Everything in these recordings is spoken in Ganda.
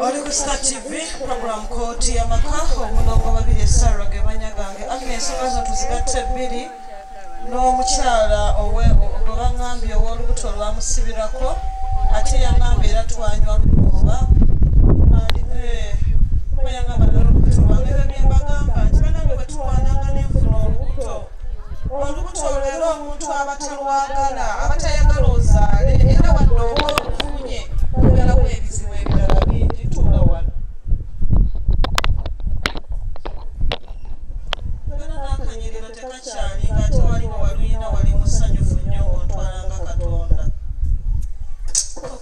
oli ku star tv program kooti yamaka omulongo babiri esara gebanya gange amina ensonga zino tuzigatta ebbiri n'omukyala owe gwebaŋambye ow'olubuto olwamusibirako ate yaŋambye era twanywa lukuba olubuto lubeera omuntu abatalwagala abatayagala ozaale era wadde oba olufunye olalawo ebizibu ebirala bingi tuula wano era nakanyiriro tekakyali nga ate waliwo waluyina wali musanyufu nnyo ng'otwalanga katonda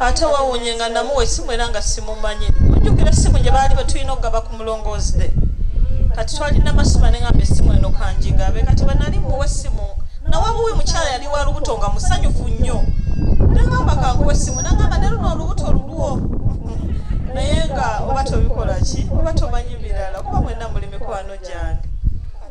ate wawonye nga namuwa esimu era nga simumanyi ojjukira esimu gye baali betulina okugaba ku mulongoozi de kati twalina masima ne ngamba esimu eno kanjingabe kati bwenali muwa esimu nawabuwi mukyala yali wa lubuto nga musanyufu nnyo nengamba kanguwa esimu nangamba ne luno olubuto lulwo naye nga oba tobikola ki oba tomanyi birala kuba mwena muli mikwano gyange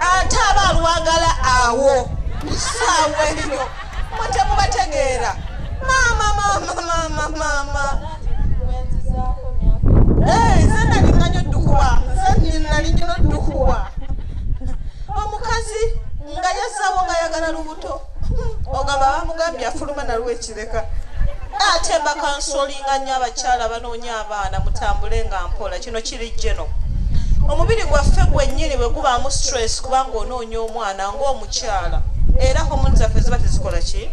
ate aba alwagala awo saawa eyo mwe temubategeera maama maama maama maama nze nalinganyo ddukuwa nze nalinyo ddukuwa omukazi nga yasawo nga yagala lubu ogamba bamugambye afuluma nalwo ekireka ate bakansolinga nnyo abakyala banoonya abaana mutambule nga mpola kino kiri jeno omubiri gwaffe gwennyini bwe gubaamu stress kubanga onoonya omwana ng'omukyala era homoni zaffe ziba tezikola ki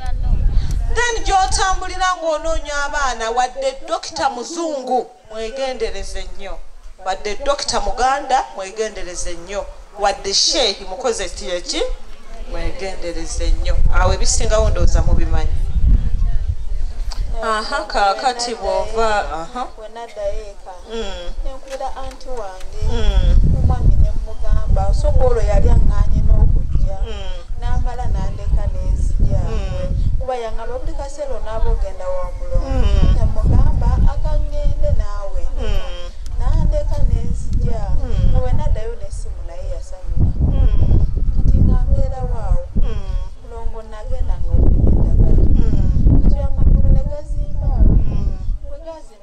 then gyotambulira ng'onoonya abaana wadde dokita muzungu mwegendereze nnyo wadde dokita muganda mwegendereze nnyo wadde sheehi mukoze kiyeki mwegendereze nnyo awo ebisingawo ndowooza mubimanyi aha kakati bwova aha wenadayo eka mm. nenkubira anti wange mm. omwami nemugamba osooka olwo yali aŋŋanye n'okujja mm. n'amala nandeka n'ezija kuba yaŋaba buli selo nabo genda wa mulongo mm. namugamba akangende naawe mm. nandeka nenzija mm. owe naddayo nesimu naye yasanyuka mm. kati nga mbeera waawo mm. mulongo nagenda nga omunyedagala mm. kati amagulu negazimba mm. bwegazimba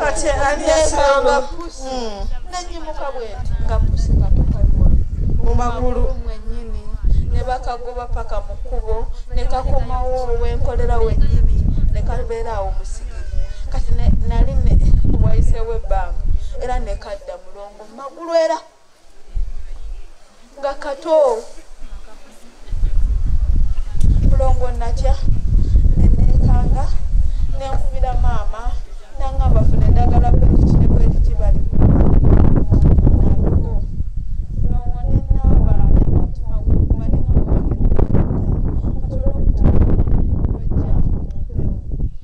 kati ani yasamba pusi hmm. nenyimuka bwenti nga pusi katukaliwa mu magulu mwenyini ne bakagoba paka mu kkubo ne kakomawo wenkolera wenyini ne kabeera awo musigiri kati nali wayisewo ebbanga era nekadda mulongo mu magulu era nga kato mulongo natya nenekanga nenkubira maama nangamba funa eddagala bweriki ne bweriki bali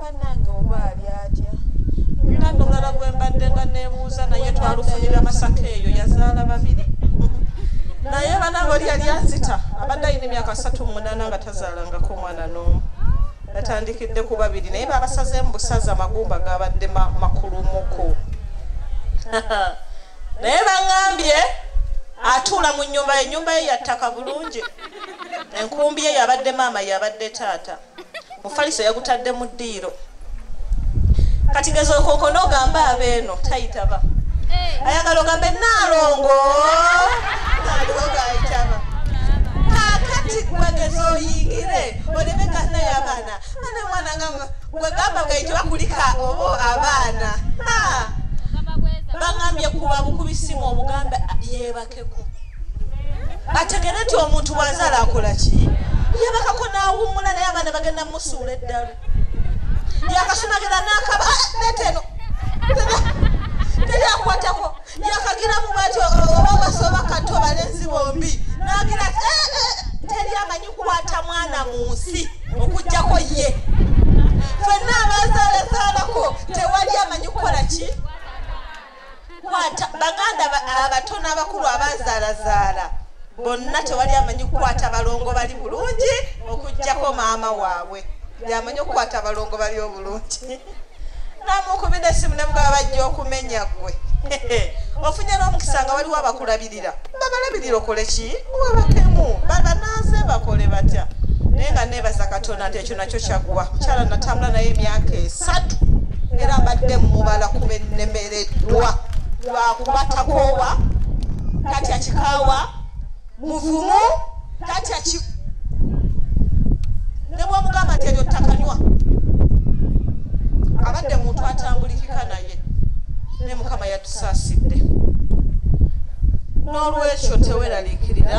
banange oba ali atya nina nomulala gwembadde nga nebuuza naye twalufunira masaka eyo yazaala babiri naye banange oli yali anzita abadde ayina emyaka satu mumunana nga tazaalangako omwana noomu batandikidde ku babiri naye babasaze mu busaza amagumba gabadde makulumuku naye baŋambye atuula mu nyumba ye nyumba ye yattaka bulungi enkumbi ye yabadde maama yabadde taata mufaliso yagutadde mu ddiiro kati gezooka okona ogamba abeeno tayitaba eh. ayagala ogambe naalongo nalogayitaba kakati gwegeza oyingire oleme ganaye abaana ane mwana nga gwegamba gaite bakulika obo abaana bangambye kuba bukubisimu omuganda yebake abategerekeko ategere nti omuntu bwazaala akola ki yabakako n'awummula naye abaana bagenda musuula eddalu yakasumagera n'akaba ah, neteno teri akwatako yakagiramu bwati oba basoba kanti obalenzi bombi nagira eh, eh, teri amanyi kwata mwana mu nsi okujjako ye fenna abazaalazaalako tewali amanyi kukola ki kwata baganda abato n'abakulu abazaalazaala bonna tewali amanyi kukwata balongo bali bulungi okugjako maama waabwe yamanyi okukwata abalongo bali obulungi namukubi nesimu nemugaba bajja okumenya gwe ofunye n'omukisa nga waliwo abakulabirira babalabirira okole ki webatemu babananze bakole batya naye nga nebaza katonda nti ekyo nakyo kyaggwa mukyala natambula naye emyaka esatu era mbadde mumubala kuba ennemereddwa lwakuba takoowa kati akikaawa muvumu tatya ki ne bwomugamba nti eryo takanywa abadde muntu atambulikika naye ne mukama yatusaasidde n'olwekyo teweraliikirira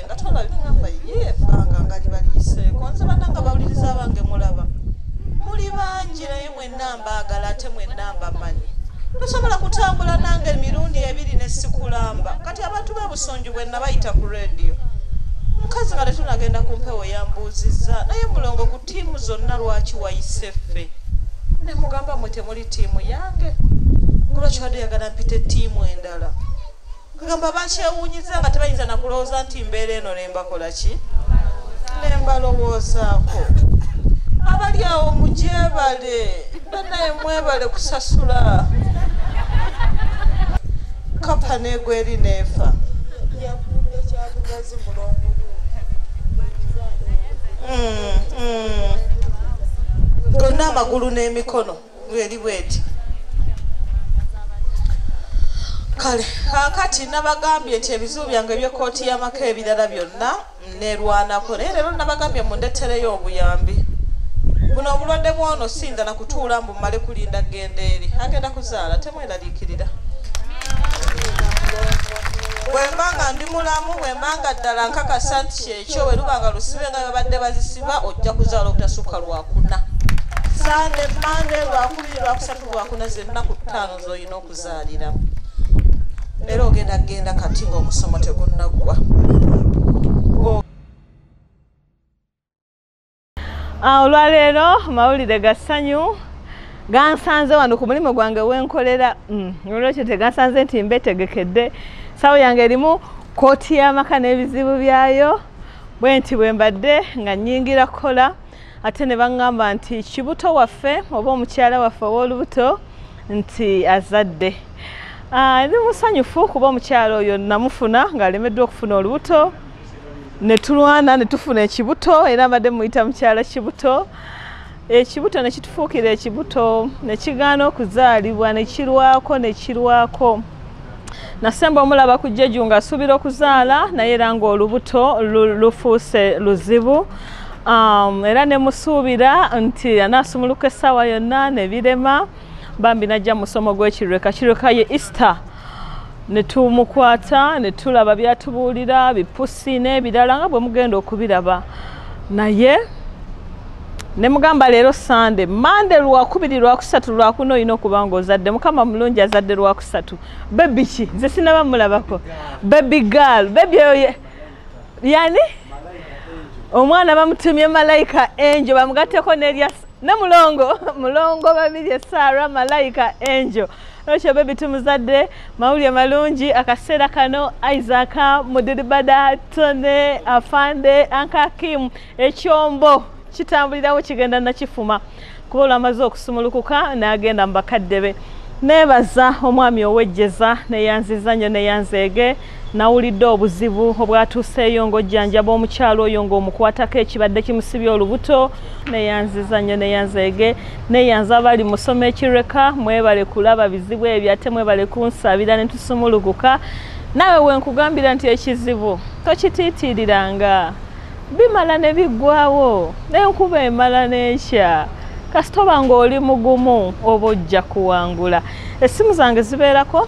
nga tolabye ngamba ye ebbanga nga libaliyiseeko nze bananga bawuliriza abange mulaba muli bangi naye mwenna mbaagala ate mwenna mbamanyi tosobola kutambula nange emirundi ebiri ne sikulamba kati abantu bebusunju bwe nabayita ku rediyo mukazi nga tetunagenda ku mpewo yambuuzizza naye mulongo ku tiimu zonna lwaki wayise ffe ne mugamba mwe temuli tiimu yange kulwakibadde yagala mpite tiimu endala kugamba bakyewunyiza nga tebayinza nakulowooza nti mbeera eno nembakola ki nembalowoozaako abali awo mugyebale banaye mwebale kusasula kapa negweri neefa mm, mm. gonna amagulu n'emikono bweri bweti kale kakati nabagambye nti ebizibu byange ebyekooti yamaka ebirala byonna nerwanako naye leero nabagambye mundetereyo obuyambi buno obulwadde bwono sindala kutuula mbu male kulinda genda eri agenda kuzaala temweraliikirira bwemba nga ndi mulamu bwemba nga ddala nkakasa nti ekyo bwe luba nga lusibe nga babadde bazisiba ojja kuzaala obutasukka lwakuna sande mande lwakubiri lwakusatu lwakuna zennaku ttaano zolina okuzaalira era ogenda kugenda kati ngaomusomo tegunnaggwa Ah, olwaleero mawulire ga ssanyu gansanze wano ku mulimu gwange wenkolera mm, olwekyo tegansanze nti mbetegekedde sawo yange erimu kooti y'amaka n'ebizibu byayo bwe nti bwe mbadde nga nyingira kukola ate ne baŋŋamba nti kibuto waffe oba omukyala waffe ow'olubuto nti azadde ah, ndi musanyufu kuba omukyala oyo namufuna ng'alemeddwa okufuna olubuto ne tulwana ne tufuna ekibuto era mbadde muyita mukyala kibuto ekibuto ne kitufuukira ekibuto ne kigaana okuzaalibwa ne kirwako ne kirwako nasemba omulaba ku jeju nga asuubira okuzaala naye era ng'olubuto lufuuse luzibu um, era ne musuubira nti anaasumuluka essaawa yonna ne birema bambi najja musomo gw'ekirweka kirweka ye easter ne tumukwata ne tulaba byatubuulira bipusi n'ebirala nga bwe mugenda okubiraba naye ne mugamba leero sande mande lwakubiri lwakusatu lwakuna olina okuba nga ozadde mukama mulungi azadde lwakusatu bebi ki nze sinaba mulabako bebi gal bebi oyo yani omwana bamutumye malayika enjo bamugatteko nerya ne mulongo mulongo babiri esara malayika enjo Rachel baby tumuzadde mawulire malungi akaseera kano Isaac Mudiribada Tone Afande Anka Kim ekyombo kitambulirawo kigenda nakifuma kuba olwamaze okusumulukuka n'agenda mu bakadde be neebaza omwami owejjeza neyanziza nnyo neyanzeege Nawulidde obuzibu obwatuuseeyo ng'ojjanjaba omukyala oyo ng'omukwatako ekibadde kimusibye olubuto. Neyanziza nnyo neyanzeege neyanza abali musoma ekireka mwebale kulaba bizibu ebyo ate mwebale kunsabira ne tusumulukuka. Naawe wenkugambira nti ekizibu tokitiitiiriranga bimala ne biggwawo n'enkuba emala n'ekya kasitoba ng'oli mugumu oba ojja kuwangula. Essimu zange zibeerako.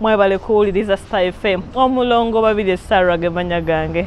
mwebale kuwuliriza star fm omulongo babiri esarwa gemanya gange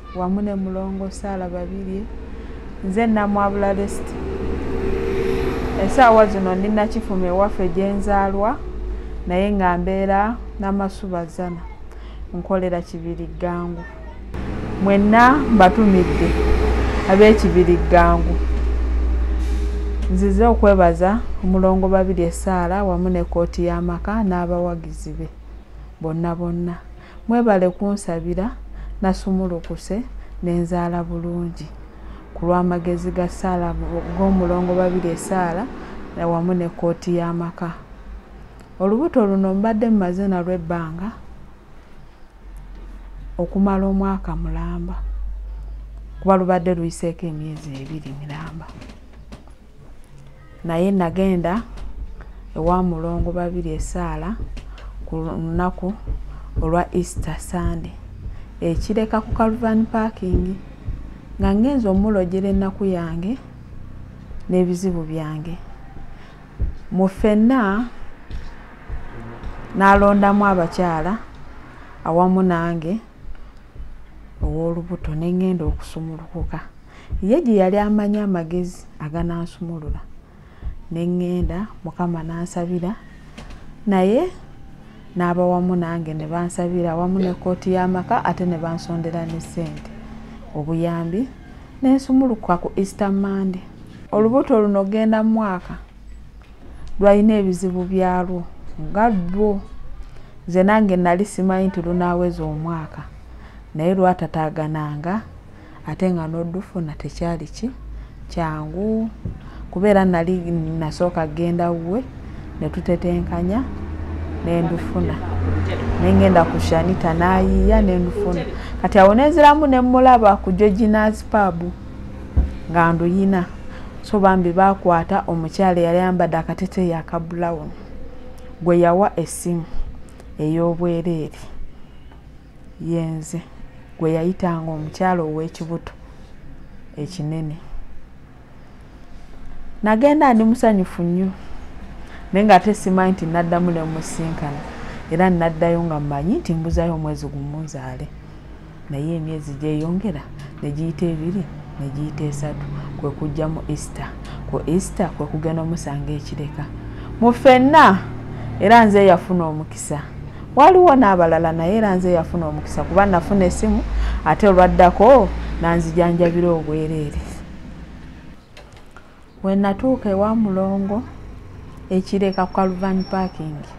wamu ne mulongo saala babirye nze namwabula lesiti esaawa zino ndi nakifuma ewaffe gyenzaalwa naye nga mbeera namasubazana nkolera kibiri ggangu mwenna mbatumidde ab'ekibiri ggangu nzize okwebaza omulongo babiri esaala wamu ne kooti y'amaka n'abawagizi be bonna bonna mwebale kunsabira nasumulukuse nenzaala bulungi ku lw'amagezi ga ssaala g'omulongo babiri esaala wamu ne kkooti y'amaka olubuto luno mbadde mumaze nalwo ebbanga okumala omwaka mulamba kuba lubadde luyiseeko emyezi ebiri miramba naye nagenda ewa mulongo babiri esaala ku lunaku olwa easter sunday ekireka ku calvan parking nga ngenza omulojera ennaku yange n'ebizibu byange mu ffenna n'alondamu abakyala awamu nange ow'olubuto ne ŋŋenda okusumulukuka ye gye yali amanyi amagezi aganansumulula ne ŋŋenda mukama n'ansabira naye n'aba wamu nange ne bansabira wamu ne kkooti y'amaka ate ne bansondera ne ssente obuyambi ne nsumulukuka ku easter monday olubuto luno genda mwaka lwalina ebizibu byalwo nga lwo nze nange nali simanyi nti lunaaweza omwaka naye lwatataagananga ate nga n'odufuna tekyali ki kyangu kubeera nali nasooka genda wuwe ne tutetenkanya nendufuna nengenda ku shanita nayiiya nendufuna kati awo nenziramu nemulaba ku georginazi paabu nga nduyina so bambi bakwata omukyala eyali ayambadde akateteeyi aka brown gwe yawa essimu ey'obwereere yenze gwe yayitanga omukyala ow'ekibuto ekinene nagenda ndi musanyufu nnyo naye nga ate simanyi nti naddamu ne musinkana era naddayo nga mmanyi nti mbuzayo omwezi gumu nzaale naye emyezi gyeyongera ne giyita ebiri ne giyita esatu kwe kujja mu easter ku easter kwe kugenda omusanga ekireka mu fenna era nze yafuna omukisa waliwo n'abalala naye era nze yafuna omukisa kuba nafuna esimu ate olwaddako nanzijanjabira obwereere Bwe natuuka ewa Mulongo ekireka ku Kaluvani paakingi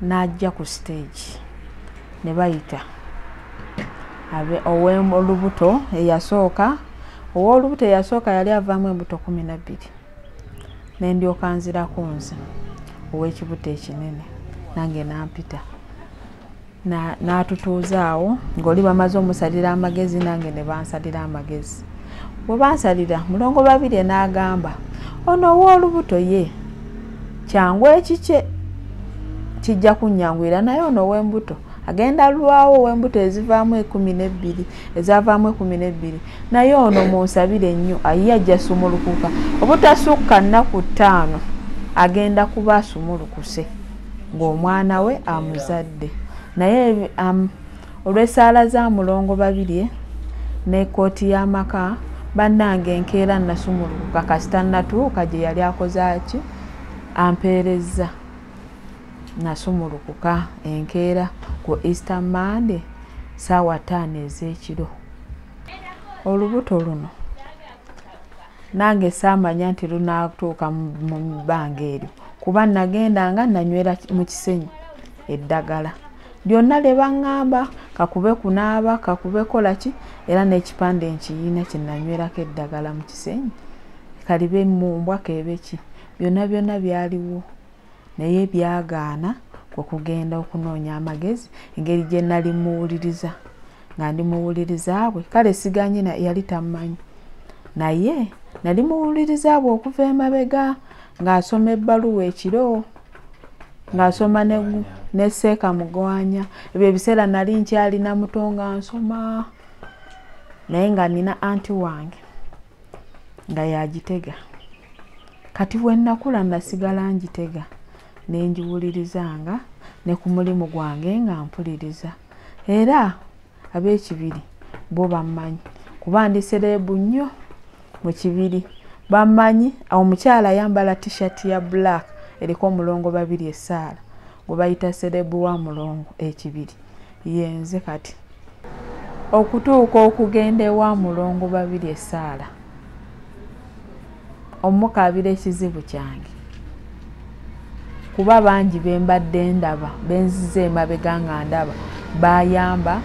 n'ajja ku siteegi ne bayita ow'olubuto eyasooka ow'olubuto eyasooka yali avaamu embuto kumi na bbiri ne ndyoka nzirako nze ow'ekibuto ekinene nange nampita n'atutuuza awo ng'oli bamaze omusalira amagezi nange ne bansalira amagezi bwe bansalira mulongo babirye n'agamba ono ow'olubuto ye kyangu ekikye kijja kunnyanguyira naye ono ow'embuto agenda lwawo ow'embuto ezivaamu ekumi n'ebbiri ezavaamu ekumi n'ebbiri naye ono munsabire nnyo ayiye ajja sumulukuka obutasukka nnaku ttaano agenda kuba asumulukuse ng'omwana we amuzadde naye um, olw'esaala za mulongo babirye ne kooti y'amaka bannange enkeera nasumulukuka kasita natuuka gye yali akoze aki ampeerezza nasumulukuka enkeera ku easter monday saawa taano ez'ekiro olubuto luno nange saamanya nti lunaatuuka mu bbanga eryo kuba nagendanga nanywera mu kisenyi eddagala lyonna lye baŋŋamba kakube kunaaba kakube kola ki era n'ekipande nkiyiina kye nanywerako eddagala mu kisenyi kalibe mu mbwa keebe ki byonna byonna byaliwo naye byagaana kwe kugenda okunoonya amagezi engeri gye nali muwuliriza nga ndi muwuliriza bwe kale siganye yali tammanyi naye nali muwuliriza bwe okuva emabega ng'asoma ebbaluwa ekiro ng'asoma ne seeka mugwanya ebyo ebiseera nali nkyalina muto nga nsoma naye nga nina anti wange nga yagitega kati bwe nnakula nasigala ngitega ne ngiwulirizanga ne ku mulimu gwange nga mpuliriza era ab'ekibiri bo bammanyi kuba ndi sereebu nnyo mu kibiri bammanyi awo omukyala ayambala tishati ya black eriko omulongo babiri esaala gwe bayita sereebu wa mulongo ekibiri yenze kati okutuuka okugenda ewa mulongo babiri esaala omukaabira ekizibu kyange kuba bangi bembadde ndaba benziza emabega nga ndaba bayamba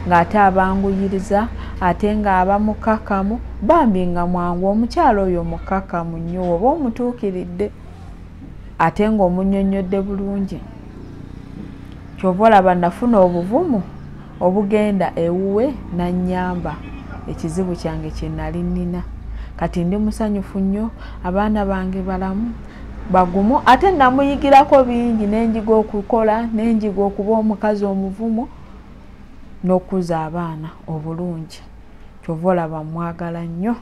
ng'ate abanguyiriza ate ng'abamukakamu bambi nga mwangu omukyalo oyo mukakamu nnyo oba omutuukiridde ate ng'omunyonnyodde bulungi kyova olaba nafuna obuvumu obugenda ewuwe nanyamba ekizibu kyange kyenali nina kati ndi musanyufu nnyo abaana bange balamu bagumu ate namuyigirako bingi nenjiga okukola nenjiga okuba omukazi omuvumu nokukuza abaana obulungi kyova olaba mwagala nnyo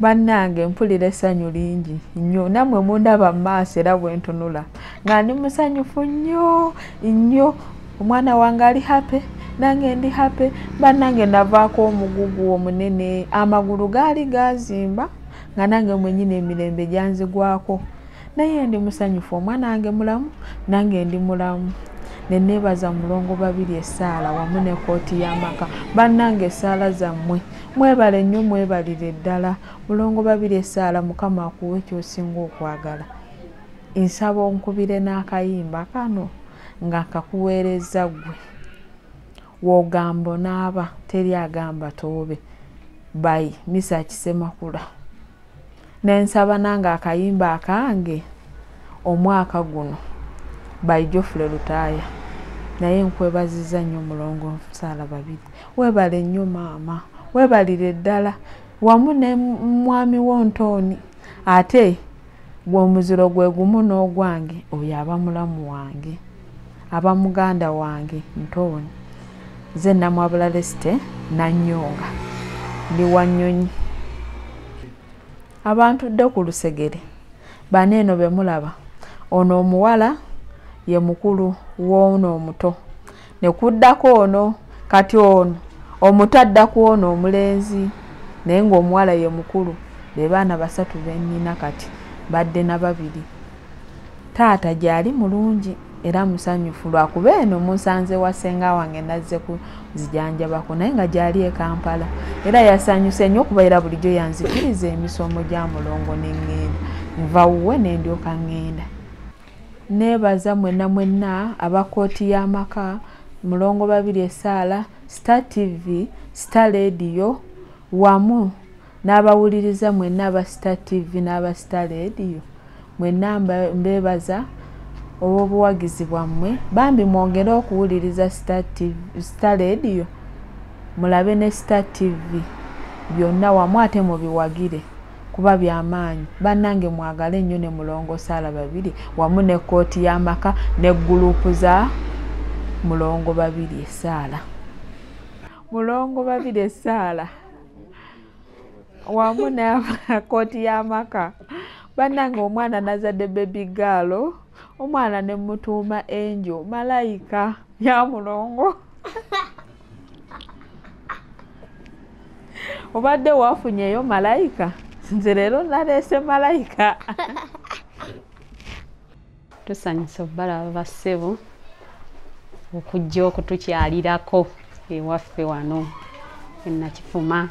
bannange mpulira essanyu lingi nnyo nammwe mundaba mu maaso era bwe ntunula nga ndi musanyufu nnyo nnyo omwana wange ali hape nange ndi hape bannange navaako omugugu omunene amagulu gaali gazimba nga nange mwenyini emirembe gyanzigwako naye ndi musanyufu omwana wange mulamu nange ndi mulamu neneebaza mulongo babiri essaala wamu ne kooti y'amaka bannange essaala zammwe mwebale nnyo mwebalire ddala mulongo babiri esaala mukama akuwe kyosinga okwagala nsaba onkubire n'akayimba kano nga nkakuweereza ggwe wogamba onaaba teri agamba toobe bayi misa kisemakula nensaba nange akayimba akange omwaka guno by jofule lutaaya naye nkwebaziza nnyo mulongo nsaala babiri webale nnyo maama webalire ddala wamu ne mwami wo ntooni ate gwe omuziro gwe gumu n'ogwange oyo aba mulamu wange aba muganda wange ntooni nze namwabula lesite nanyonga ndi wanyonyi abantu dde ku lusegere bana eno be mulaba ono omuwala ye mukulu woono omuto ne kuddako ono kati ono omuto adda ku ono omulenzi naye ng'omuwala ye mukulu be baana basatu be nnina kati badde na babiri taata gyali mulungi era musanyufu lwakuba eno musanze wa senga wange nazze kuzijanjabako naye nga gyali e kampala era yasanyuse nnyo okuba era bulijjo yanzikiriza emisomo gya mulongo neŋŋenda nva wuwe nendyoka ŋŋenda neebaza mwenna mwenna aba kooti y'amaka mulongo babiri esaala star tv star lediyo wamu n'abawuliriza mwenna aba star tv n'aba star radio mwenna mbeebaza olw'obuwagizi bwammwe bambi mwongere okuwuliriza star radio mulabe ne star tv byonna wamu ate mubiwagire kuba byamaanyi bannange mwagale nnyo ne mulongo saala babiri wamu ne kkooti y'amaka ne guluupu za mulongo babiri esaala mulongo babiri esaala wamu nakooti y'amaka bannange omwana nazadde bebi gaalo omwana ne mutuuma enjo malayika ya mulongo obadde wafunyeyo malayika nze leero naleese malayika tusanyusa obalaba bassebo okujja okutukyalirako ewaffe wano enakifuma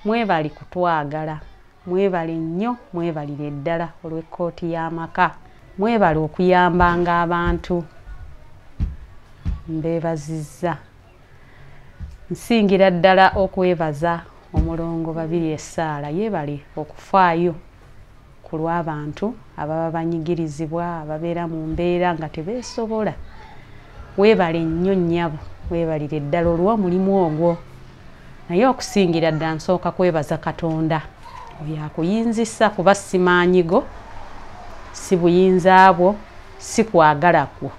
mwebali kutwagala mwebale nnyo mwebalire ddala olw'ekkooti y'amaka mwebale okuyambanga abantu mbebazizza nsingira ddala okwebaza omulongo babiri essaala yeebale okufaayo ku lw'abantu ababa banyigirizibwa ababeera mu mbeera nga tebeesobola weebale nnyo nnyabo weebalire ddala olw'omulimu ogwo naye okusingira dda nsooka kwebaza katonda oyo akuyinzisa kuba simaanyigo si buyinza bwo si kwagala kwo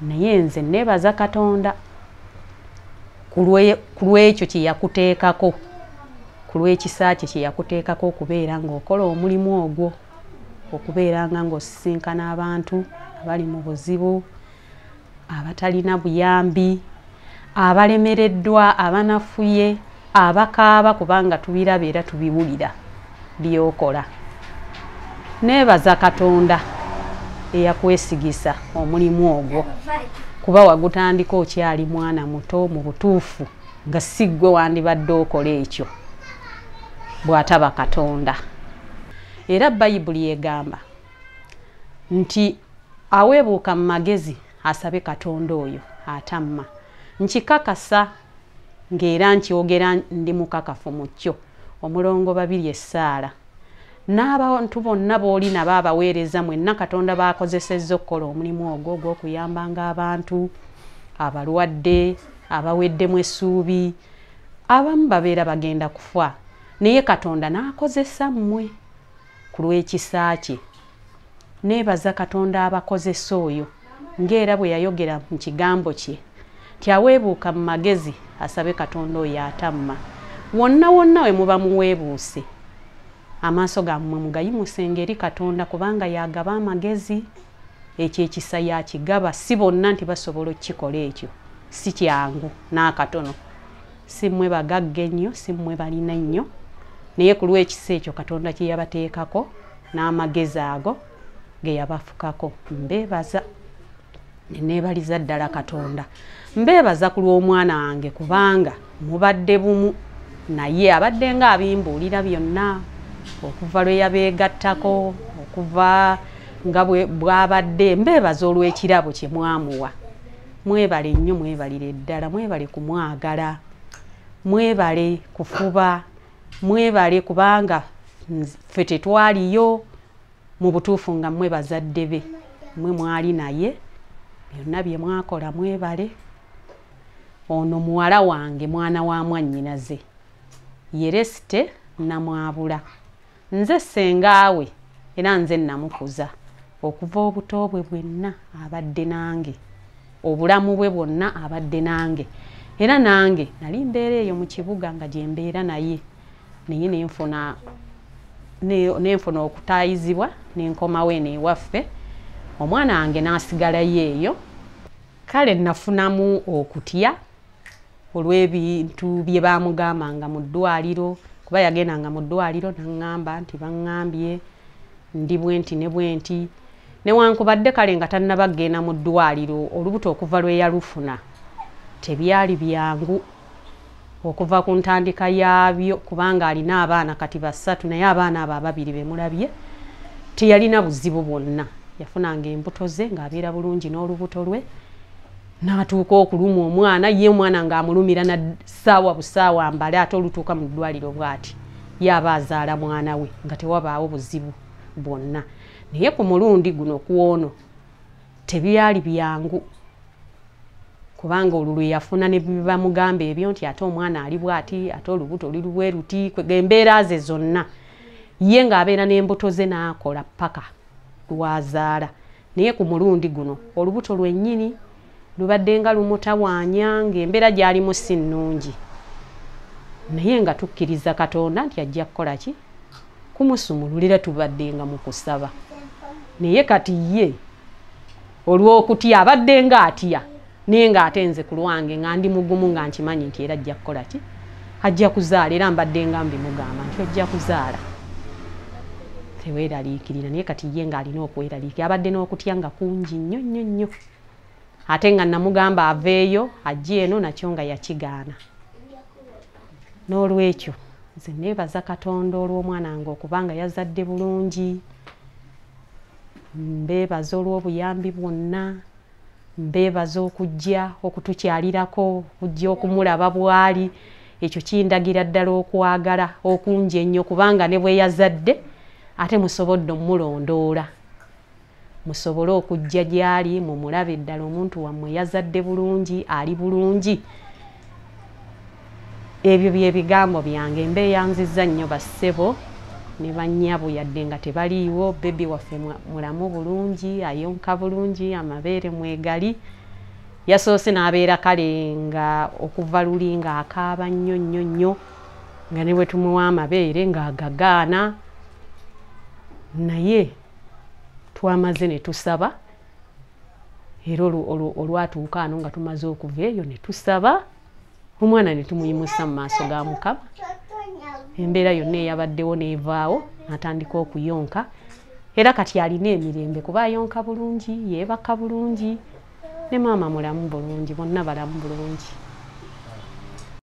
naye nze nebaza katonda ku lwekyo kyeyakuteekako ku lwekisa kye kyeyakuteekako okubeera ngaokola omulimu ogwo okubeera nga ngaosisinkana abantu abali mu buzibu abatalina buyambi abalemereddwa abanafuye abakaaba kubanga tubiraba era tubiwulira byokola neebaza katonda eyakwesigisa omulimu ogwo kuba wagutandika okyali mwana muto mu butuufu nga si ggwe wandibadde okola ekyo bw'ataba katonda era bayibuli egamba nti aweebuuka mu magezi asabe katonda oyo atamma nkikakasa ng'era nkyogera ndi mukakafu mu kyo omulongo babiri essaala n'abantu bonna booli nabo abaweereza mwenna katonda baakozesezza okukola omulimu ogwo ogw'okuyambanga abantu abalwadde abaweddemu essuubi abamu babeera bagenda kufa naye katonda n'akozesa mmwe ku lw'ekisa kye. Neebaza Katonda abakozesa oyo ng'era bwe yayogera mu kigambo kye nti aweebuuka mu magezi asabe Katonda oyo atamma. Wonna wonna we muba muweebuuse, amaaso gammwe mugayimusenga eri Katonda kubanga y'agaba amagezi. Ekyo ekisa y'akigaba, si bonna nti basobola okukikola ekyo. Si kyangu n'akatono. si mmwe bagagga ennyo si mmwe balina ennyo naye ku lw'ekisa ekyo katonda kye yabateekako n'amagezi ago ge yabafukako mbeebaza neneebaliza ddala katonda mbeebaza ku lw'omwana wange kubanga mubadde bumu naye abadde nga abimbuulira byonna okuva lwe yabeegattako okuva nga bwabadde mbeebaza olw'ekirabo kye mwamuwa mwebale nnyo mwebalire ddala mwebale kumwagala mwebale kufuba mwebale kubanga ffe tetwaliyo mu butuufu nga mwe bazadde be mwe mwali naye byonna bye mwakola mwebale ono muwala wange mwana wa mwannyinaze yeresite namwabula nze sengaawe era nze namukuza okuva obuto bwe bwenna abadde nange obulamu bwe bwonna abadde nange era nange nali mbeera eyo mu kibuga nga gyembeera naye naye nenfuna nenfuna okutayizibwa nenkomawo eno ewaffe omwana wange nasigalayo eyo kale nafunamu okutya olw'ebintu bye baamugambanga mu ddwaliro kuba yagendanga mu ddwaliro naŋŋamba nti baŋŋambye ndi bwenti ne bwenti newankubadde kale nga tannaba kugenda mu ddwaliro olubuto okuva lwe yalufuna tebyali byangu okuva ku ntandika yaabyo kubanga alina abaana kati basatu naye abaana abo ababiri bemulabye teyalina buzibu bwonna yafunanga embuto ze ng'abeera bulungi n'olubuto lwe n'atuuka okuluma omwana ye omwana ng'amulumira na ssaawa busaawa mbale ate olutuuka mu ddwaliro bw'ati yaaba azaala mwana we nga tewabaawo buzibu bwonna naye ku mulundi guno kw'ono tebyali byangu kubanga olwo lwe yafuna ne bibamugamba ebyo nti ate omwana ali bw'ati ate olubuto oli lubweruti embeera ze zonna ye ng'abeera n'embuto ze n'akola ppaka lwazaala naye ku mulundi guno olubuto lwennyini lubadde nga lumutawaanya ng'embeera gyalimu si nnungi naye nga tukkiriza katonda nti ajja kukola ki kumusumululira tubadde nga mu kusaba naye kati ye olw'okutya abadde nga atya naye ng'ate nze ku lwange nga ndi mugumu nga nkimanyi nti era ajja kukola ki ajja kuzaala era mbadde nga mbimugamba nti ojja kuzaala teweeraliikirira naye kati ye ng'alina okweraliikira abadde n'okutya nga kungi nnyo nnyo nnyo ate nga namugamba aveeyo ajja eno nakyo nga yakigaana n'olwekyo nze neebaza katonda olw'omwana nga okubanga yazadde bulungi mbeebaza olw'obuyambi bwonna mbeebaza okujja okutukyalirako okujja okumulaba bwali ekyo kindagira ddala okwagala okungi ennyo kubanga ne bweyazadde ate musobodde omulondoola musobole okujja gyali mumulabe ddala omuntu wammwe yazadde bulungi ali bulungi ebyo bye bigambo byange mbeyanziza nnyo bassebo ne bannyabo yadde nga tebaliiwo bebi waffe mulamu bulungi ayonka bulungi amabeere mwegali yasoose n'abeera kale nga okuva luli nga akaaba nnyo nnyo nnyo nga ne bwe tumuwa amabeere ng'agagaana naye twamaze ne tusaba era olwatuuka ano nga tumaze okuva eyo ne tusaba omwana ne tumuyimusa mu maaso ga mukama embeera yonna eyabaddewo n'evaawo natandika okuyonka era kati alina emirembe kuba ayonka bulungi yeebaka bulungi ne maama mulamu bulungi bonna balamu bulungi